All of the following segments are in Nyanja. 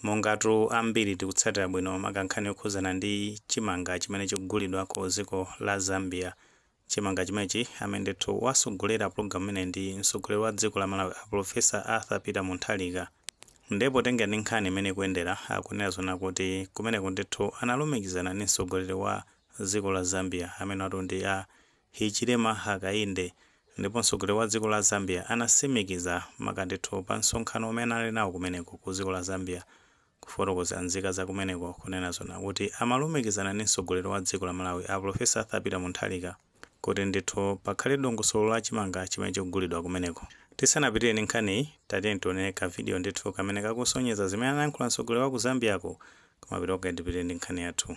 Mongatu ambiri tikutsatira bwino maka nkhani yokhuzana ndi chimanga chimene chikugulidwa ku dziko la Zambia, chimanga chimenechi, amene ndithu wasogolera pulogalamu imeneyi ndi mtsogoleri wa dziko la Malawi a Pulofesa Arthur Peter Mutharika. Ndiye potengera ndi nkhani imene ikuyendera, akunena zoona kuti kumeneko ndithu analumikizana ndi mtsogoleri wa dziko la Zambia, amenewatu ndi a Hichilema Hakainde ndipo mtsogoleri wa dziko la Zambia anasimikiza maka ndithu pa msonkhano omwe anali nawo kumeneko ku dziko la Zambia kufotokozera nzika za kumeneko kunena zoona kuti amalumikizana ndi mtsogoleri wa dziko la Malawi a Professor Arthur Peter Mutharika kuti ndithu pakhale dongosolo la chimanga chimene chikugulidwa kumeneko. Tisanapitire ndi nkhaniyi tatiyeni tione ka video ndithu kamene kakusonyeza zimene anayankhula mtsogoleri wa ku Zambia ko koma before tipitire ndi nkhani yathu.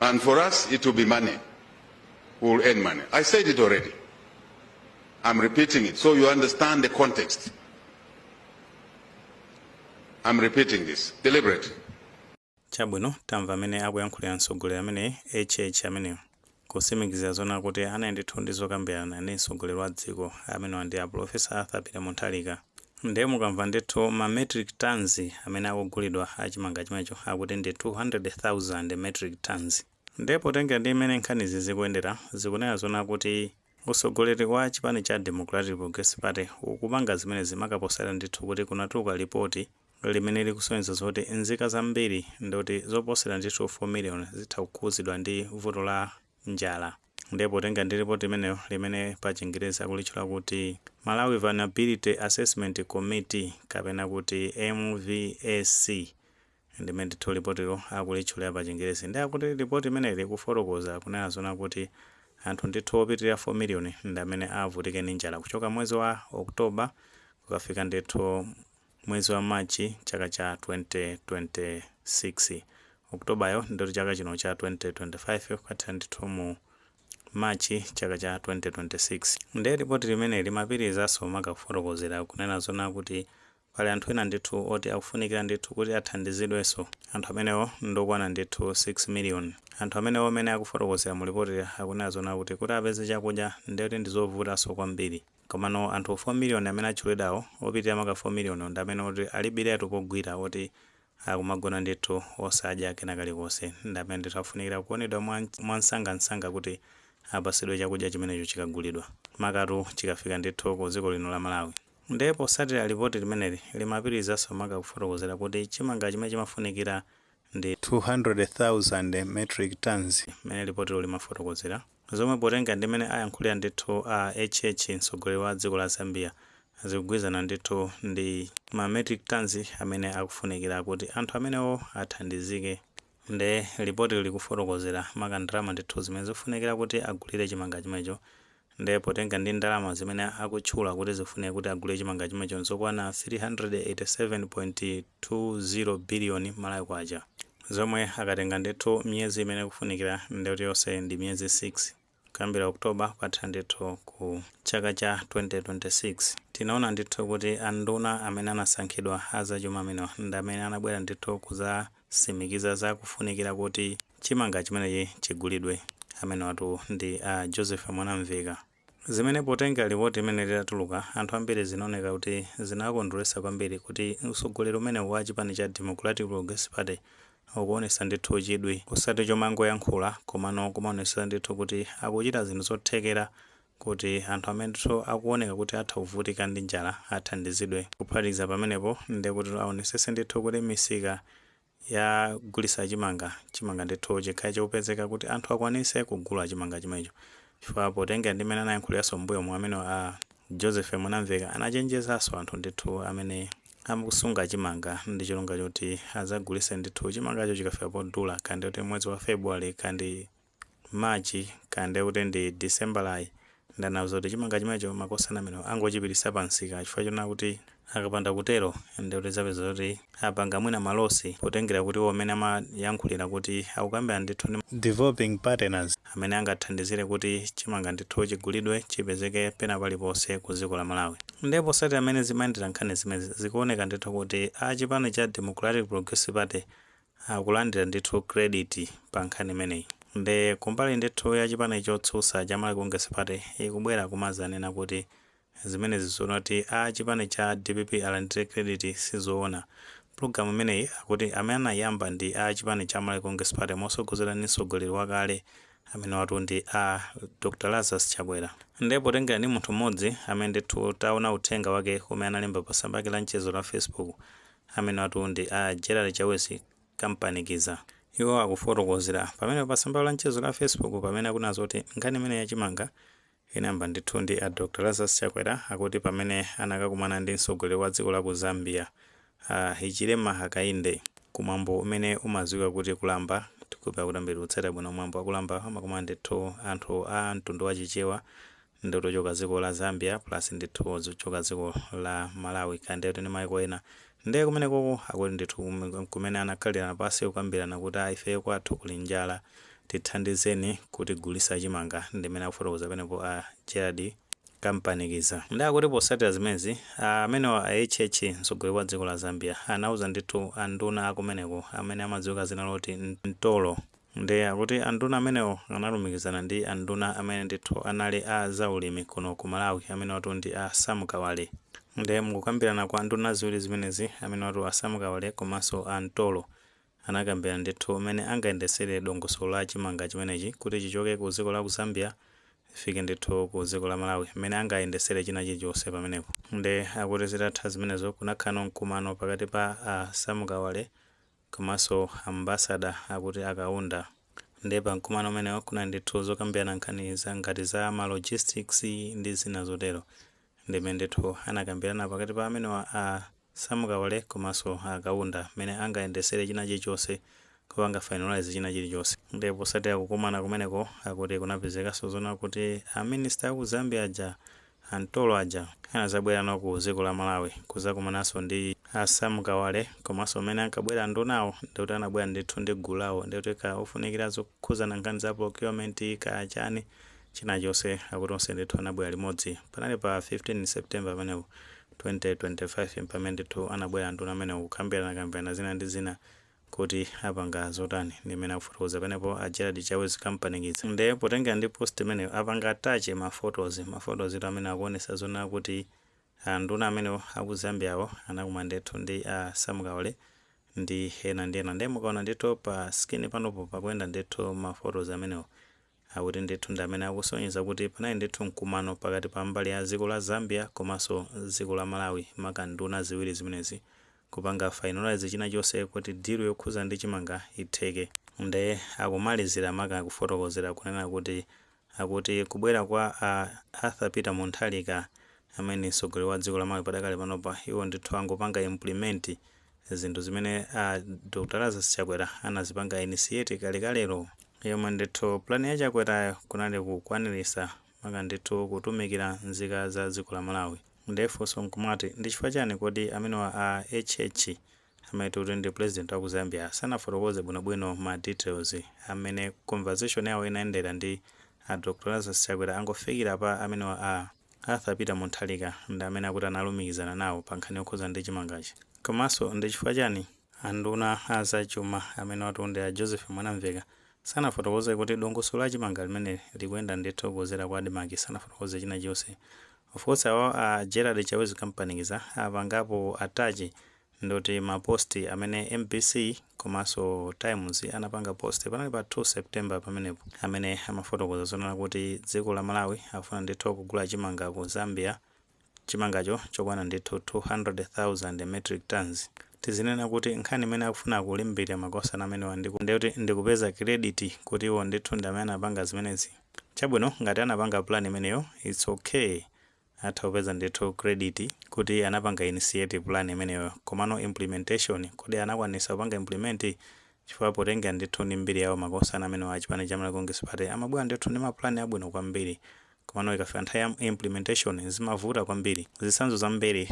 And for us, it will be money. We will earn money. I said it already. I'm repeating it so you understand the context. I'm repeating this deliberately. chabwino tamva amene akuyankhulira mtsogoleri amene hh ameneyo Kutsimikiza zoona kuti anali ndithu ndi zokambirana ndi mtsogoleri wa dziko, amenewa ndi a Pulofesa Arthur Peter Mutharika. Ndiye mukamva ndithu ma metric tonnes amene akugulidwa a chimanga chimenecho akuti ndi 200,000 metric tonnes. Ndiye potengera ndi mmene nkhanizi zikuyendera, zikunena zoona kuti Utsogoleri wa chipani cha Democratic Progressive Party ukupanga zimenezi maka potsatira ndithu kuti kunatuluka lipoti limene likusonyeza zoti nzika zambiri ndiyoti zoposera ndithu 4 million zitha kukhudzidwa ndi vuto la njala nde potenga ndi lipoti limenelo limene pa chingerezi akulitchula kuti Malawi Vulnerability Assessment Committee kapena kuti MVAC Ndi mmene ndithu lipotilo akulitchulira pa chingerezi nde akuti report limeneli ikufotokoza kunena zona kuti anthu ndithu opitilira 4 million ndamene avutike ndi njala kuchoka mwezi wa October kukafika ndithu mwezi wa March chaka cha 2026 October yo ndiyoti chaka chino cha 2025 kukathera ndithu mu March chaka cha 2026 nde report limeneli limapitilizaso maka kufotokozera kunena zona kuti Pali anthu ena ndithu oti akufunikira ndithu kuti athandizidwenso. Anthu amenewo ndi okwana ndithu 6 miliyoni. Anthu amenewo mmene akufotokozera mu lipotili akunena zoona kuti, kuti apeze chakudya ndiye kuti ndi zovutanso kwambiri. Komano anthu 4 miliyoni amene atchulidwawo, opitirira maka 4 miliyoniwo ndi amene oti alibiretu pogwira oti akumagona ndithu osadya kena kalikonse. Ndi amene ndithu akufunikira kuonedwa mwamsangamsanga kuti apatsidwe chakudya chimenecho chikagulidwa, makatu chikafika ndithu ku dziko lino la Malawi. Nde posatira lipoti limeneli limapitilizaso maka kufotokozera kuti chimanga chimene chimafunikira ndi 200,000 metric tonnes mmene lipotilo limafotokozera. Zomwe potenga ndi mmene ayankhulira ndithu a HH mtsogoleri wa dziko la Zambia zikugwirizana ndithu ndi ma metric tonnes amene akufunikira kuti anthu amenewo athandizike. Nde lipotili likufotokozera maka ndalama ndithu zimene zikufunikira kuti agulire chimanga chimenecho nde potenga ndi ndalama zimene akutchula kuti zikufunika kuti agulire chimanga chimenecho nzokwana 387.20 biliyoni Malawi kwacha zomwe akatenga ndithu miyezi imene ikufunikira ndekuti yonse ndi miyezi 6. Kuyambira October kukatha ndithu ku chaka cha 2026 tinaona ndithu kuti anduna amene anasankhidwa a zachuma amenewa ndi amene anabwera ndithu kuzasimikiza za kufunikira kuti chimanga chimenechi chigulidwe. Amenewatu ndi a Joseph Mwanamveka. Zimene potenga lipoti imene litatuluka anthu ambiri zinaoneka kuti zinawakondweretsa kwambiri kuti utsogoleri umenewu wa chipani cha Democratic Progressive Party ukuonesa ndithu chidwi osati chomangoyankhula komano kumaonesesa ndithu kuti akuchita zinthu zothekera kuti anthu amene ndithu akuoneka kuti atha kuvutika ndi njala athandizidwe. Kuphatikiza pamenepo ndekutitu aonesese ndithu kuti misika yogulisa chimanga, chimanga ndithu chikhale chikupezeka kuti anthu akwanise kugula chimanga chimenecho chifukwa potengera ndi mmene anayankhulilaso mmbuyomu amenewo a Josephy Mwanamveka anachenjezaso anthu ndithu amene Amakusunga chimanga ndi cholinga choti azagulise ndithu chimangacho chikafika podula kaya ndikuti mwezi wa February kaya ndi March kaya ndekuti ndi Decemberayi nde anawauza kuti chimanga chimenecho makosana amenewo angochipitisa pa msika chifukwa chonena kuti akapanda kutero ndekuti azapeza zoti apanga mwina malosi potengera kuti iwo mmene amayankhulira kuti akukambirana ndithu ndi ma developing partners amene angathandizire kuti chimanga ndithu chigulidwe chipezeke pena paliponse ku dziko la Malawi. Nde posata mmene zimayendera nkhani zimenezi, zikuoneka ndithu kuti a chipani cha Democratic Progressive Party akulandira ndithu credit pa nkhani imeneyi. Nde kumbali ndithu ya chipani chotsutsa cha Malawi Congress Party ikubwera kumadzanena kuti Zimenezi zoti a chipani cha dpp alandire credit sizoona. Pulogalamu imeneyi akuti amene anaiyamba ndi a chipani cha Malawi Congress Party mosogozedwa ndi mtsogoleri wakale amenewatu ndi a Dr Lazarus Chakwera. Nde potengera ndi munthu mmodzi amene ndithu taona uthenga wake umene analemba pa tsamba lake la mchezo la Facebook amenewatu ndi a Gerald Chawezi Kampanikiza. Iwo akufotokozera pamenepa pa tsamba lawo la mchezo la Facebook pamene akunena zoti nkhani imeneyi ya chimanga Inayamba ndithu ndi a Dr Lazarus Chakwera akuti pamene anakakumana ndi mtsogoleri wa dziko la ku Zambia a Hichilema Hakainde ku mwambo umene umadziwika kuti Kulamba. Ndikhulupira kuti ambiri timatsata bwino mwambo wa Kulamba amakumana ndithu anthu a mtundu wa Chichewa ndi kuti ochoka dziko la Zambia plus ndithu ochoka dziko la Malawi kaya ndithu ndi maiko ena Nde kumenekoko akuti ndithu kumene anakhalirana pasi kukambirana kuti a ifeyo kwathu kuli njala tithandizeni kutigulisa chimanga ndimene akufotokoza penepo a Gerald Kampanikiza. Nde akuti posatira zimenezi amenewa a HH mtsogoleri wa dziko la Zambia anauza ndithu a nduna akumeneko amene amadziwika zina loti Mtolo, Ndiye akuti anduna amenewo analumikizana ndi anduna amene ndithu anali a za ulimi kuno ku Malawi amenewatu ndi a Sam Kawale. Ndiye mukukambirana kwa nduna ziwiri zimenezi amenewatu a Sam Kawale komanso a Mtolo anakambirana ndithu mmene angayendetsere dongosolo la chimanga chimenechi kuti chichoke ku dziko la ku Zambia chifike ndithu ku dziko la Malawi, mmene angayendetsere china chilichonse pamenepo. Ndiye akuti zitatha zimenezo kunakhalanso mkumano pakati pa a Sam Kawale Komanso ambassador akuti a Kaunda. Nde pa mkumano umenewo kunali ndithu zokambirana nkhani za ngati za ma logistics ndi zina zotero. Ndi mmene ndithu anakambirana pakati pa amenewa a Sam Kawale komanso a Kaunda mmene angayendesere china chilichonse kupanga finalise china chilichonse. Nde posatira kukumana kumeneko akuti kunapezekanso zoona kuti a minister aku Zambia aja A Mtolo aja anazabwerano ku ziko la Malawi kuzakumananso ndi a Sam Kawale komanso m'mene ankabwera andunawo ndekuti anabwera ndithu ndi gulu lawo ndekuti kaya ofunikira zokhuzana nkhani za procurement kaya chani china chonse akuti onse ndithu anabwera limodzi panali pa 15 September pamenepo 2025 mpamene ndithu anabwera anduna amenewo kukambirana kambirana zina ndi zina kuti apanga zotani ndi mmene akufotokoza penepo a Gerald Chawezi Kampanikiza nde potengera ndi post imeneyo apanga attach ma photos ma photos tu amene akuonesa zoona kuti a nduna amenewo aku Zambiawo anakumana ndithu ndi a Sam Kawale ndi ena ndi ena nde mukaona ndithu pa screen panopo pakuyenda ndithu ma photos amenewo akuti ndithu ndi amene akusonyeza kuti panali ndithu mkumano pakati pa mbali ya dziko la Zambia komanso dziko la Malawi maka nduna ziwiri zimenezi kupanga finalise china chonse kuti deal yokhudza ndi chimanga itheke. Nde akumalizira maka kufotokozera kunena kuti akuti kubwera kwa a Arthur Peter Mutharika amene ndi mtsogoleri wa dziko la Malawi padakali panopa iwo ndithu angopanga implement zinthu zimene a Dr Lazarus Chakwera anazipanga initiate kalekalelo yomwe ndithu plan ya Chakwerayo kunali kukwanilisa maka ndithu kutumikila nzika za dziko la Malawi nde funso nkumati ndi chifukwa chani kodi amenewa a HH amene kuti ndi president wa ku Zambia sanafotokoze bwinobwino ma details a mmene conversation yawo inayendera ndi a Dr Lazarus Chakwera angofikila pa amenewa a Arthur Peter Mutharika ndi amene akuti analumikizana nawo pa nkhani yokhudza ndi chimangachi. Komanso ndi chifukwa chani a nduna a za chuma amenewatu ndi a Joseph Mwanamveka sanafotokoze kuti dongosolo la chimanga limeneli likuyenda ndithu kudzera ku Admarc sanafotokoze china chilichonse. Of course awawa a Gerald Chawezi Kampanikiza apangapo attach Ndikuti ma post amene mbc komanso times anapanga post panali pa 2 September pamenepo amene amafotokoza zonena kuti dziko la Malawi akufuna ndithu kugula chimanga ku Zambia chimangacho chokwana ndithu 200,000 metric tonnes tizinena kuti nkhani imene akufuna kulimbirira makosana amenewa ndikuti ndi kupeza credit kuti iwo ndithu ndi amene anapanga zimenezi chabwino ngati anapanga plan imeneyo its ok atha kupeza ndithu credit kuti anapanga initiate plan imeneyo komano implementation kodi anakwanisa kupanga implement? chifukwa potengera ndithu ndi mbiri yawo makosana amenewa a chipani cha Malawi Congress Party amabwera ndithu ndi ma plan abwino kwambiri komano ikafika nthawi ya implementation zimavuta kwambiri. Zitsanzo zambiri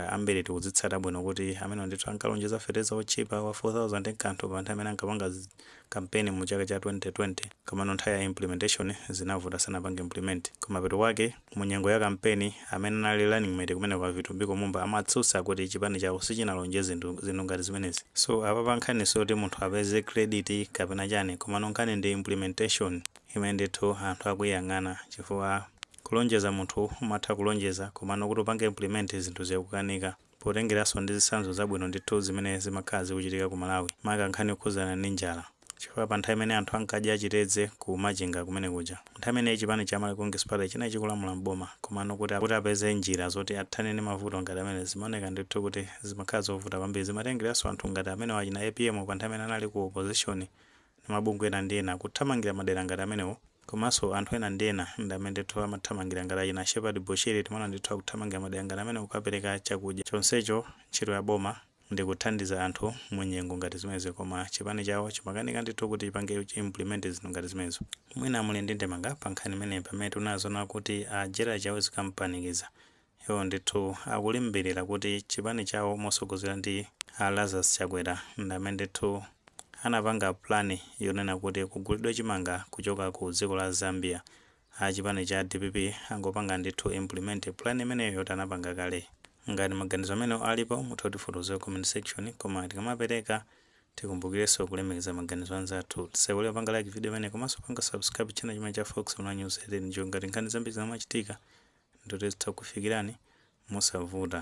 ambiri tikuzitsata bwino kuti amenewa ndithu ankalonjeza fetereza wotchipa wa 4000 nkuti pa nthawi imene ankapanga kampeni mu chaka cha 2020 komano nthawi ya implementation zinavuta sanapange implement kumapeto kwake Mu nyengo ya kampeni, amene anali running mate kumeneko a Vitumbiko Mumba amatsutsa kuti chipani chawo sichinalonjeze zinthu ngati zimenezi. So apapa nkhani siyoti munthu apeze credit kapena chani komano nkhani ndi implementation imene ndithu anthu akuyang'ana chifukwa kulonjeza munthu umatha kulonjeza komano kuti upange implement zinthu zikukanika. potengeranso ndi zitsanzo zabwino ndithu zimene zimakhala zikuchitika ku Malawi maka nkhani yokhudzana ndi njala chifukwa pa nthawi imene anthu ankadya chitedze ku Machinga kumene kuja, nthawi imeneyi chipani cha Malawi Congress Party chinali chikulamula m'boma komano kuti apeze njira zoti athane ndi mavuto ngati amenewa zimaoneka ndithu kuti zimakhala zovuta kwambiri, zimatengeranso anthu ngati amenewa achina apm pa nthawi imene anali ku opposition ndi mabungwe ena ndi ena kuthamangira madera ngati amenewo komanso anthu ena ndi ena ndi amene ndithu amathamangira ngati achina Shepherd Bushiri timaona ndithu akuthamangira madera ngati amenewo kukapereka chakudya chonsecho ntchito ya boma ndi kuthandiza anthu mu nyengo ngati zimenezi koma chipani chawo chimakanika ndithu kuti chipange implement zinthu ngati zimenezo. Mwina muli ndi ndemanga pa nkhani imeneyi pamene tikunena zoona kuti a Gerald Chawezi Kampanikiza Iwo ndithu akulimbirira kuti chipani chawo mosogozedwa ndi a Lazarus Chakwera ndamene ndithu anapanga plan yonena kuti kugulidwe chimanga kuchoka ku dziko la Zambia. A chipani cha dpp angopanga ndithu implement plan imeneyo yoti anapanga kale. Ngati maganizo amenewo alipo mutha kutifotokozera ku comment section koma tikamapereka tikumbukirenso kulemekeza maganizo anzathu. Tisaiwale kupanga like video imeneyi komanso kupanga subscribe channel chimene cha Fox Online News ngati nkhani zambiri zikamachitika ndikuti zitha kukufikirani mosavuta.